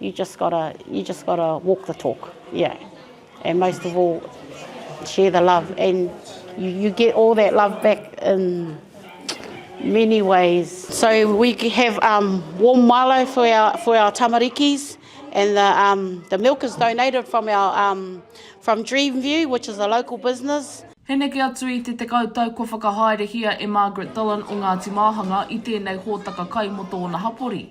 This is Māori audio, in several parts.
You just gotta, you just gotta walk the talk, yeah. And most of all, share the love. And you, you get all that love back in many ways. So we have um, warm malo for our, for our tamarikis. and the, um, the milk is donated from our um, from Dreamview, which is a local business. He neke atu i te tekau tau kua whakahaerehia e Margaret Dillon o Ngāti Māhanga i tēnei hōtaka kai mō tōna hapori.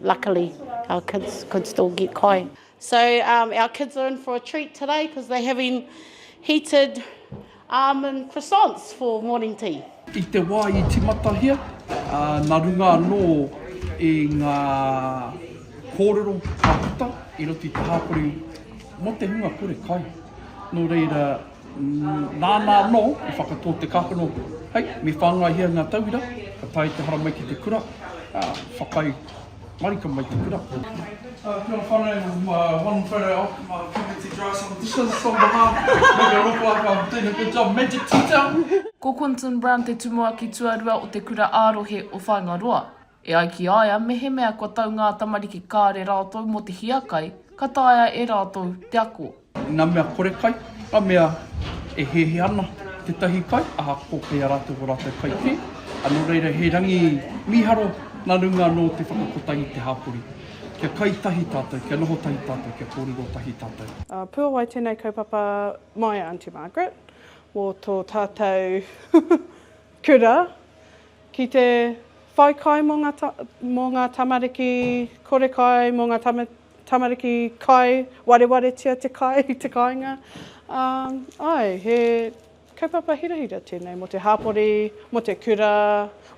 Luckily our kids could still get kai. So um, our kids are in for a treat today because they're having heated almond croissants for morning tea. I te wā i timatahia, uh, nā runga anō i ngā kōrero ka puta i roto i te hāpori mō te hunga kore kai. Nō reira, Nāna anō i whakatō te kākano hei me whāngaihia ngā tauira, ka tae te hara mai ki te kura, ā, whakaae marika mai te kura. Kia ora whanau, I'm one photo off from my puppy to dry some dishes on behalf to make it look like I'm doing a good job, magic teacher! Ko Quinton Brown te tumuaki tuarua o te kura ā-rohe o Whāingaroa. E ai ki a ia, mehemea kua tau ngā tamariki kāre rātou mō te hiakai, ka taea e rātou te ako. Ngā mea kore kai, ngā mea e hehe ana tētahi kai, ahakoa kei a rātou ō rātou kai kē, nō reira he rangi mīharo nā runga anō o te whakakotahi i te hāpori. Kia kai tahi tātou, kia noho tahi tātou, kia kōrero tahi tātou. Puawai tenei kaupapa mai a Aunty Margaret mo to tatou kura Ki te whai kai mō ngā, mō ngā tamariki kore kai, mō ngā tamariki kai, warewaretia te kai i te kāinga. Ā, āe, he kaupapa hirahira tēnei mō te hāpori, mō te kura,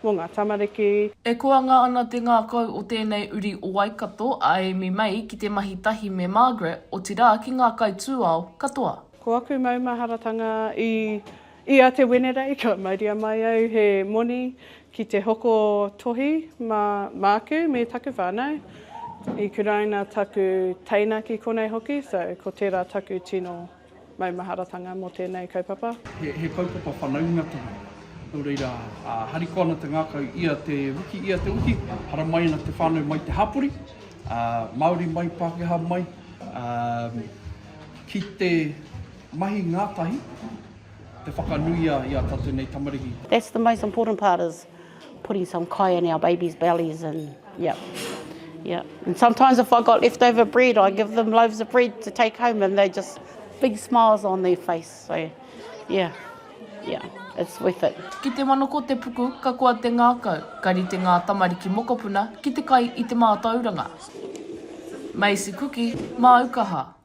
mō ngā tamariki. E koanga ana te ngākau o tēnei uri o Waikato a Amy May ki te mahi tahi me Margaret, otirā ki ngā kaitūao katoa. Ko aku maumaharatanga i. I a Te Wenerei ka mauria mai au he moni ki te hoko tohi mā māku me taku whānau. I kuraina taku teina ki konei hoki, so ko tērā taku tino maumaharatanga mō tēnei kaupapa. He kaupapa whanaunga tēnei, nō reira, harikoa ana te ngākau ia te wiki, ia te wiki, hara mai ana te whānau mai te hapori, Māori mai, Pākehā mai, ki te. Mahi ngatahi te whakanuia i a tatu nei tamariki. That's the most important part is putting some kai in our babies bellies and yeah yeah and sometimes if I got leftover bread I give them loaves of bread to take home and they just big smiles on their face so yeah yeah it's worth it. Ki te manoko te puku ka koa te ngakau ka rite nga tamariki mokopuna ki te kai i te matauranga. Maisi kuki, maukaha,